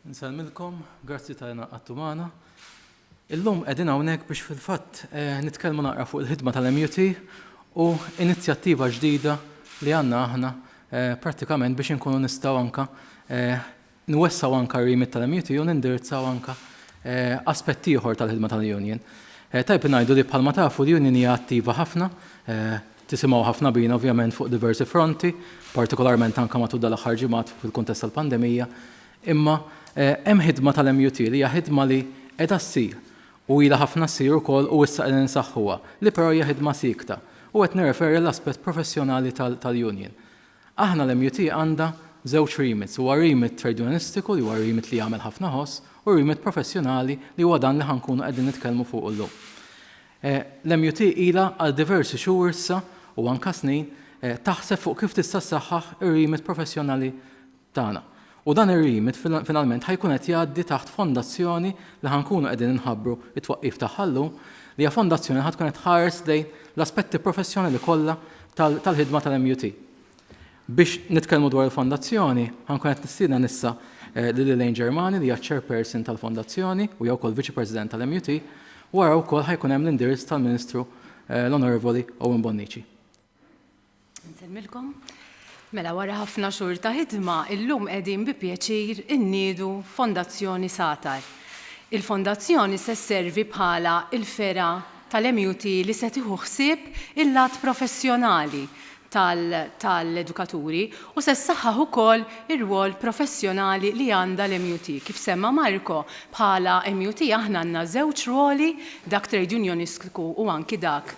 Nsalmilkom, grazzi ta' jena għattu maħna. Illum edin għawnek biex fil-fat eh, nitkelmu naqra fuq il-ħidma tal-MUT u inizjattiva ġdida li għanna aħna eh, pratikament biex nkunu nistaw anka eh, Nwessgħu anke r-remit tal-MUTU u nindirizzaw anke aspett ieħor tal-ħidma tal-Union. Tajjeb li ngħidu li bħalma tafu l-Union hija attiva ħafna, tisimgħu ħafna bina ovvjament fuq diversi fronti, partikolarment anke matul dal-aħħar ġimgħat fil-kuntest tal-pandemija, imma hemm ħidma tal-MUTU li hija ħidma li qiegħda ssir u ilha ħafna ssir ukoll u issa qegħdin insaħħuha, li però hija ħidma siekta, u qed nirreferi għall-aspett professjonali tal-Union. Aħna l-MUT għandha żewġ remits, huwa remit tredjunistiku li huwa remit li jagħmel ħafna ħoss u remit professjonali li huwa dan li ħa nkunu qegħdin nitkellmu fuqu llum. L-MUT ilha għal diversi xhur issa u anke snin taħseb fuq kif tista' ssaħħaħ ir-remit professjonali tagħna. U dan ir-remit finalment ħa jkun qed jgħaddi taħt fondazzjoni li ħa nkunu qegħdin inħabbru t-twaqqif tagħha llum, li hija fondazzjoni li ħa tkun qed tħares lejn l-aspetti professjonali kollha tal-ħidma tal-MUT. Biex nitkellmu dwar il-fondazzjoni, ħa nkun qed nistieden issa lil Elaine Germani li hija ċ-chairperson tal-fondazzjoni u hija wkoll viċi-president tal-MUT, wara wkoll ħa jkun hemm l-indirizz tal-Ministru l-Onorevoli Owen Bonnici. Insemmilkom. Mela wara ħafna xhur ta' ħidma, illum qegħdin bi pjaċir inniedu Fondazzjoni Satar. Il-Fondazzjoni se sservi bħala l-fergħa tal-MUT li se tieħu ħsieb il-lat professjonali tal-edukaturi u se ssaħħaħ ukoll ir-rwol professjonali li għandha l-MUT. Kif semma Marco, bħala MUT aħna għandna żewġ rwoli, dak Trade Unionistku u anki dak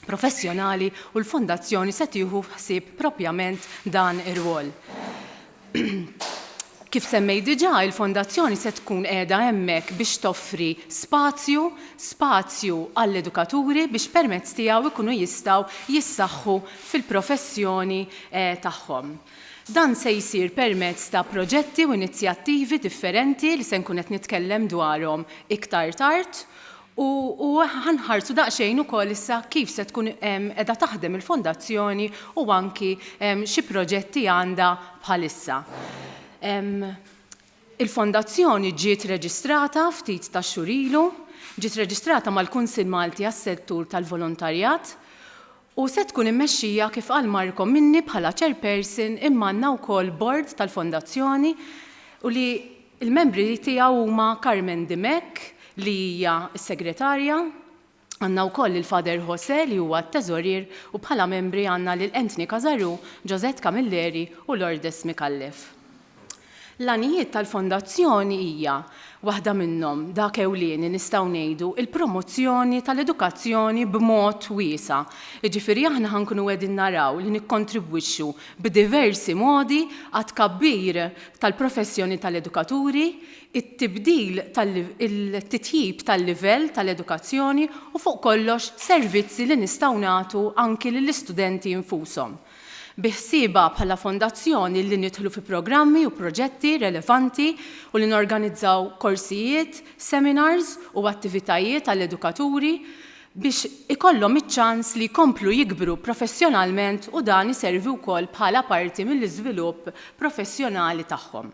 professjonali u l-Fondazzjoni se tieħu ħsieb proprjament dan ir-rwol. Kif semmej diġà, il-Fondazzjoni se tkun qiegħda hemmhekk biex toffri spazju, spazju għall-edukaturi biex permezz tiegħu jkunu jistgħu jissaħħu fil-professjoni eh, tagħhom. Dan se jsir permezz ta' proġetti u inizjattivi differenti li se nkun qed nitkellem dwarhom iktar tard U ħa nħarsu daqsxejn ukoll issa kif se tkun qiegħda taħdem il-Fondazzjoni u anki xi proġetti għandha bħalissa. Il-Fondazzjoni ġiet reġistrata ftit tax-xhur ilu, ġiet reġistrata mal-Kunsill Malti għas-Settur tal-Volontarjat u se tkun immexxija kif qal Marco minni bħala Chairperson imma għandna wkoll Bord tal-Fondazzjoni u li Il-membri tiegħu huma Carmen Dimech li hija s-Segretarja, għandna wkoll lil Father José li huwa t-Teżorier u bħala membri għandna lil Anthony Casarù, Josette Camilleri u Lourdes Micallef. L-għanijiet tal-Fondazzjoni hija, waħda minnhom, dak ewlieni nistgħu ngħidu, il-promozzjoni tal-edukazzjoni b'mod wiesa', jiġifieri aħna ħa nkunu qegħdin naraw li nikkontribwixxu b'diversi modi għat-tkabbir tal-professjoni tal-edukaturi, it-tibdil tal-titjib tal-livell tal-edukazzjoni u fuq kollox servizzi li nistgħu nagħtu anki lill-istudenti nfushom. Biħsieba bħala Fondazzjoni li nidħlu fi programmi u proġetti relevanti u li norganizzaw korsijiet, seminars u attivitajiet għall-edukaturi, biex ikollhom iċ-ċans li jkomplu jikbru professjonalment u dan iservi wkoll bħala parti mill-iżvilupp professjonali tagħhom.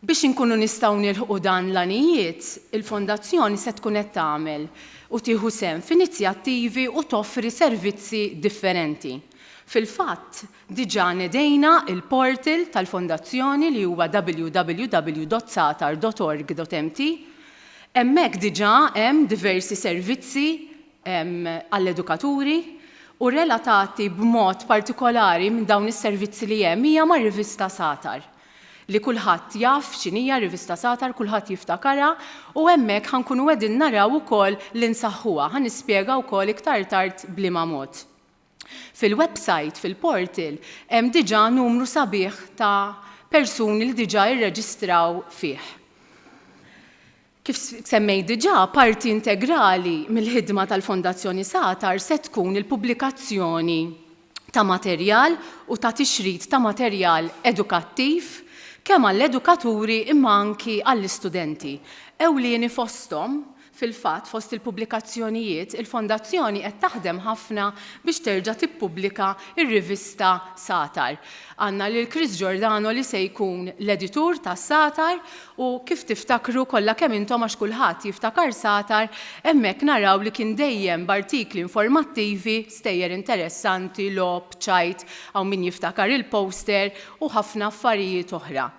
Biex inkunu nistgħu nilħqu dan l-għanijiet, il-Fondazzjoni se tkun qed tagħmel u tieħu sehem f'inizjattivi u toffri servizzi differenti. Fil-fatt, Diġà nedejna l-portal tal-Fondazzjoni li huwa www.satar.org.mt. Hemmhekk diġà hemm diversi servizzi għall-edukaturi u relatati b'mod partikolari minn dawn is-servizzi li hemm hija mar-rivista Satar li kulħadd jaf x'inhija r-rivista Satar, kulħadd jiftakarha u hemmhekk ħa nkunu qegħdin naraw ukoll li nsaħħuha. Ħa nispjega wkoll iktar tard b'liema mod. Fil-websajt, fil-portal, hemm diġà numru sabiħ ta' persuni li diġà irreġistraw fih. Kif semmejt diġà, parti integrali mill-ħidma tal-Fondazzjoni Satar se tkun il-pubblikazzjoni ta' materjal u ta' tixrid ta' materjal edukattiv kemm għall-edukaturi imma anki għall-istudenti, ewlieni fosthom Fil-fatt, fost il-pubblikazzjonijiet, il-Fondazzjoni qed taħdem ħafna biex terġa' tippubblika r-rivista Satar. Għandna lil Chris Giordano li se jkun l-editur ta' Satar u kif tiftakru kollha kemm intom għax kulħadd jiftakar Satar, hemmhekk naraw li kien dejjem b'artikli informattivi, stejjer interessanti, logħob, ċajt, hawn min jiftakar il-poster, u ħafna affarijiet oħra.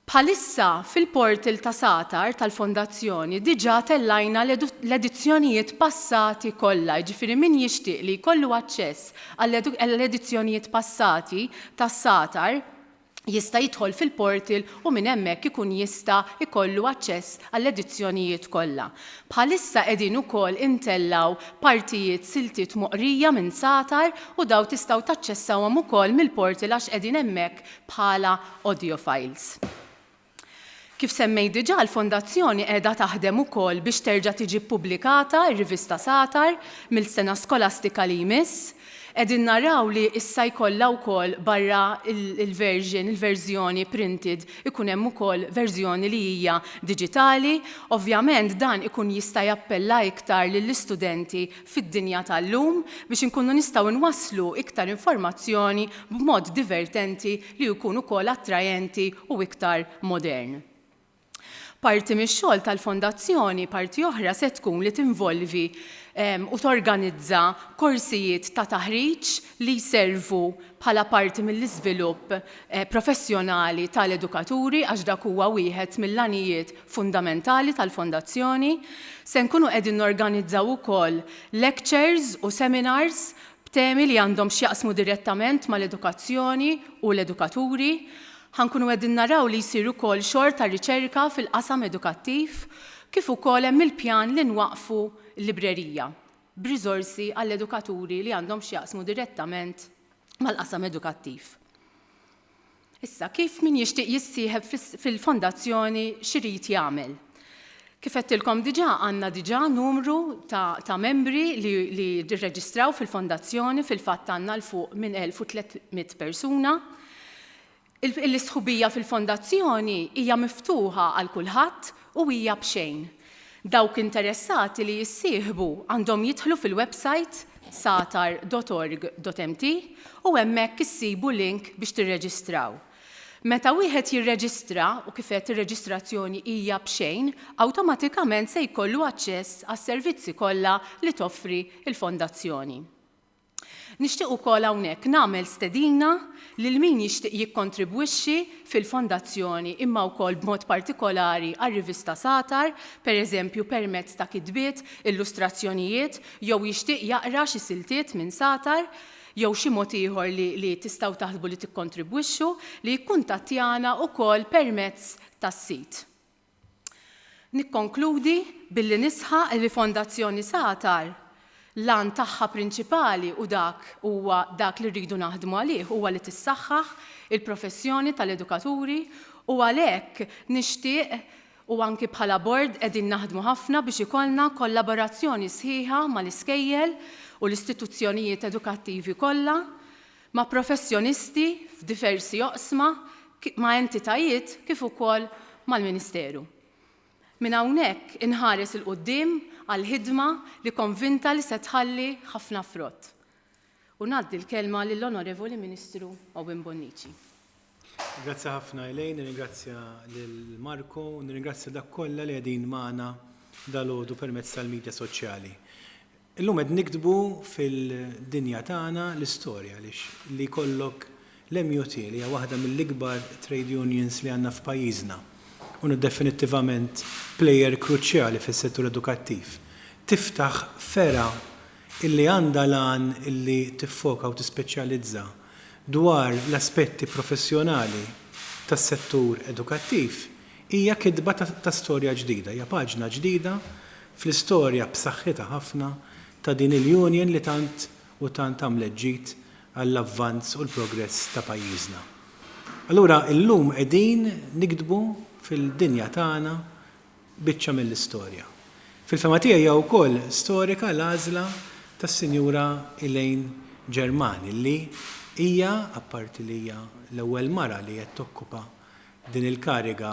Bħalissa fil-portal ta' Satar tal-Fondazzjoni diġà tellajna l-edizzjonijiet passati kollha, jiġifieri min jixtieq li jkollu aċċess għall-edizzjonijiet passati ta' Satar jista' jidħol fil-portal u minn hemmhekk ikun jista' jkollu aċċess għall-edizzjonijiet kollha. Bħalissa qegħdin ukoll intellgħu partijiet siltiet moqrija minn Satar u dawn tistgħu taċċessawhom ukoll mill-portal għax qegħdin hemmhekk bħala audio files. Kif semmejt diġà, l-Fondazzjoni qiegħda taħdem ukoll biex terġa' tiġi ppubblikata r-rivista Satar mill-sena skolastika li jmiss. Qegħdin naraw li issa jkollha wkoll barra l-version, il-verżjoni printed, ikun hemm ukoll verżjoni li hija diġitali. Ovvjament dan ikun jista' jappella iktar lill-istudenti fid-dinja tal-lum biex inkunu nistgħu nwasslu iktar informazzjoni b'mod divertenti li jkun ukoll attrajenti u iktar modern. Parti mix-xogħol tal-Fondazzjoni parti oħra se tkun li tinvolvi u torganizza korsijiet ta' taħriġ li jservu bħala parti mill-iżvilupp professjonali tal-edukaturi għax dak huwa wieħed mill-għanijiet fundamentali tal-Fondazzjoni. Se nkunu qegħdin norganizzaw ukoll lectures u seminars b'temi li għandhom x'jaqsmu direttament mal-edukazzjoni u l-edukaturi. Ħa nkunu qegħdin naraw li jsir ukoll xogħol ta' riċerka fil-qasam edukattiv kif ukoll hemm il-pjan li nwaqqfu librerija b'riżorsi għall-edukaturi li għandhom x'jaqsmu direttament mal-qasam edukattiv. Issa, kif min jixtieq jissieħeb fil-fondazzjoni x'irid jagħmel? Kif għedtilkom diġà għandna diġà numru ta', ta membri li, li rreġistraw fil-fondazzjoni fil-fatt għandna l fuq minn 1300 persuna. L-istħubija fil-fondazzjoni hija miftuħa għal kulħadd u hija b'xejn. Dawk interessati li jissieħbu għandhom jidħlu fil-websajt satar dot org dot mt u hemmhekk issibu link biex tirreġistraw. Meta wieħed jirreġistra, u kif għedt ir-reġistrazzjoni hija b'xejn, awtomatikament se jkollu aċċess għas-servizzi kollha li toffri l-Fondazzjoni. Nixtieq ukoll hawnhekk nagħmel stedina lil min jixtieq jikkontribwixxi fil-Fondazzjoni imma wkoll b'mod partikolari għar-rivista Satar, pereżempju permezz ta' kitbiet, illustrazzjonijiet jew jixtieq jaqra xi siltiet minn Satar jew xi mod ieħor li li tistgħu taħsbu li tikkontribwixxu, li jikkuntattjana ukoll permezz tas-sit. Nikkonkludi billi nisħaq li Fondazzjoni Satar l-għan tagħha prinċipali u dak huwa dak li rridu naħdmu għalih huwa li tissaħħaħ il-professjoni tal-edukaturi u għalhekk nixtieq u anki bħala Bord qegħdin naħdmu ħafna biex ikollna kollaborazzjoni sħiħa mal-iskejjel u l-istituzzjonijiet edukattivi kollha ma' professjonisti f'diversi oqsma, ma' entitajiet kif ukoll mal-Ministeru. Minn hawnhekk inħares 'il quddiem għal ħidma li konvinta li se tħalli ħafna frott. U ngħaddi l-kelma lill-Onorevoli Ministru Owen Bonnici. Grazzi ħafna Elaine, nirringrazzja lil Marco u nirringrazzja dak kollha li qegħdin magħna dalgħodu permezz tal-midja soċjali. Illum qed niktbu fil-dinja tagħna l-istorja għaliex li jkollok l-MUT li hija waħda mill-ikbar trade unions li għandna f'pajjiżna u definittivament plejer kruċjali fis-settur edukattiv tiftaħ fergħa illi għandha l-għan illi tiffoka u tispeċjalizza dwar l-aspetti professjonali tas-settur edukattiv hija kitba ta' storja ġdida, hija paġna ġdida fl-istorja b'saħħitha ħafna ta' din il-Union li tant u tant għamlet ġid għall-avvanz u l-progress ta' pajjiżna. Allura llum qegħdin niktbu fil-dinja tagħna biċċa mill-istorja. Fil-fehma tiegħi hija wkoll storika l-għażla tas-Sinjura Elaine Germani li hija, apparti li hija l-ewwel mara li qed tokkupa Din il-kariga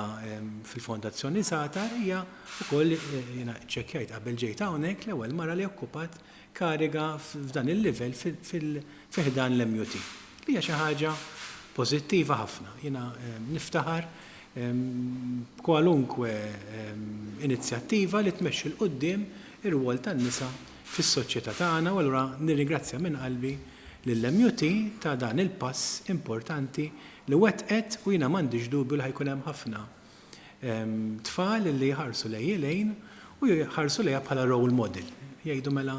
fil-Fondazzjoni Satar hija wkoll jiena ċċekkjajt qabel ġejt hawnhekk l-ewwel mara li okkupat kariga f'dan il-livell fi ħdan l-MUT. Li hija xi ħaġa pożittiva ħafna. Jiena niftaħar b'kwalunkwe inizjattiva li tmexxi 'l quddiem ir-rwol tan-nisa fis-soċjetà tagħna u allura nirringrazzja minn qalbi lill-MUT ta' dan il-pass importanti li wettqet u jiena m'għandix dubju li ħa jkun hemm ħafna tfal li jħarsu lejn Elaine u jħarsu lejha bħala role model, jgħidu mela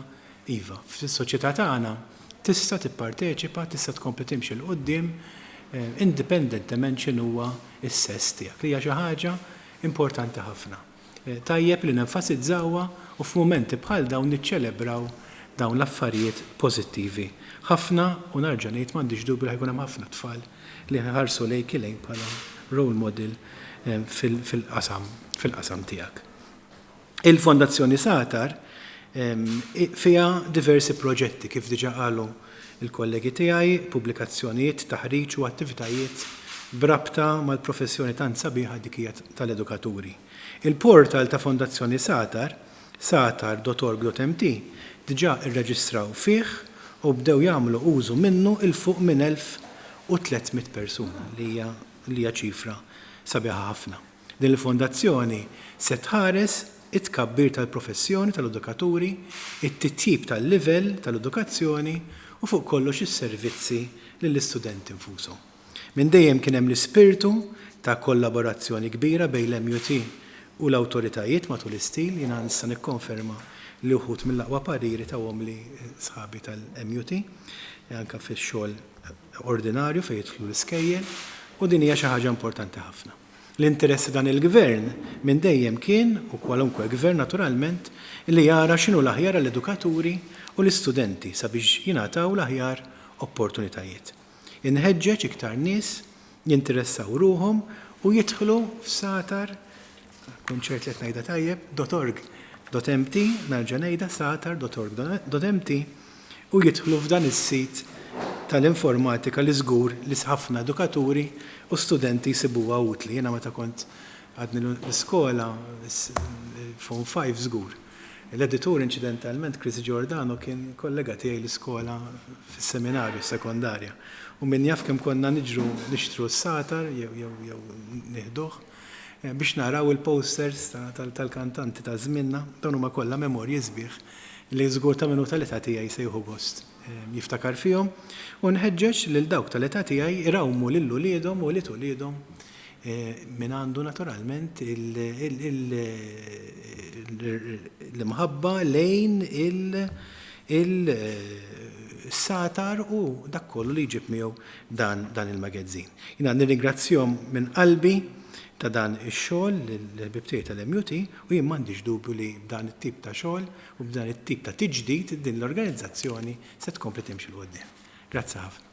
iva, fis-soċjetà tagħna tista' tipparteċipa, tista' tkompli timxi 'l quddiem indipendentement x'inhuwa s-sess tiegħek, li hija xi ħaġa importanti ħafna. Tajjeb li nenfasizzawha u f'mumenti bħal dawn niċċelebraw dawn l-affarijiet pożittivi. Ħafna, u narġa' ngħid m'għandix dubju li ħa jkun hemm ħafna tfal li ħiħarsu lejk Elaine bħala role model fil-qasam fil-qasam tiegħek. Il-Fondazzjoni Satar fiha diversi proġetti kif diġà qalu il-kollegi tiegħi, pubblikazzjonijiet, taħriġ u attivitajiet b'rabta mal-professjoni tant sabiħa dik hija tal-edukaturi. Il-portal ta' Fondazzjoni Satar, satar.org.mt, diġà rreġistraw fih u bdew jagħmlu użu minnu 'l fuq minn 1,300 persuna, li hija ċifra sabiħa ħafna. Din il-fondazzjoni se tħares it-tkabbir tal-professjoni tal-edukaturi, it-titjib tal-livell tal-edukazzjoni u fuq kollox is-servizzi lill-istudenti nfushom. Minn dejjem kien hemm l-ispirtu ta' kollaborazzjoni kbira bejn l-MUT u l-awtoritajiet matul is-snin. Jiena nista' nikkonferma li uħud mill-aqwa pariri tawhomli sħabi tal-MUT anke fix-xogħol ordinarju fejn jidħlu l-iskejjel u din hija xi ħaġa importanti ħafna. L-interess ta' dan il-Gvern minn dejjem kien, u kwalunkwe Gvern naturalment, li jara x'inhu l-aħjar għall-edukaturi u l-istudenti sabiex jingħataw l-aħjar opportunitajiet. Inħeġġeġ iktar nies jinteressaw ruħhom u jidħlu f'satar, nkun ċert li qed ngħidha tajjeb, dot org. Dot empty, nerġa' ngħidha, satar, dot org. Dot empty, u jidħlu f'dan is-sit tal-informatika li żgur li ħafna edukaturi u studenti jsibuha utli. Jiena meta kont għadni l-iskola, form five żgur, l-editur inċidentalment Chris Giordano kien kollega tiegħi l-iskola fis-seminarju, s-sekondarja, u min jaf kemm konna niġru nixtru s-satar jew nieħduh. biex naraw il-posters tal-kantanti ta' żmienna, dawn huma kollha memorji sbieħ li żgur ta' min hu tal-età tiegħi se jieħu gost jiftakar fihom u nħeġġeġ lil dawk tal-età tiegħi jrawmu lil uliedhom u ulied uliedhom min għandu naturalment l-imħabba lejn il-satar u dak kollu li jġib miegħu dan il-magazzin. Jiena nirringrazzjahom minn qalbi ta' dan ix-xogħol lill-ħbieb tiegħi tal-MUT u jien m'għandix dubju li b'dan it-tip ta' xogħol u b'dan it-tip ta' tiġdid din l-organizzazzjoni se tkompli timxi 'l quddiem. Grazzi ħafna.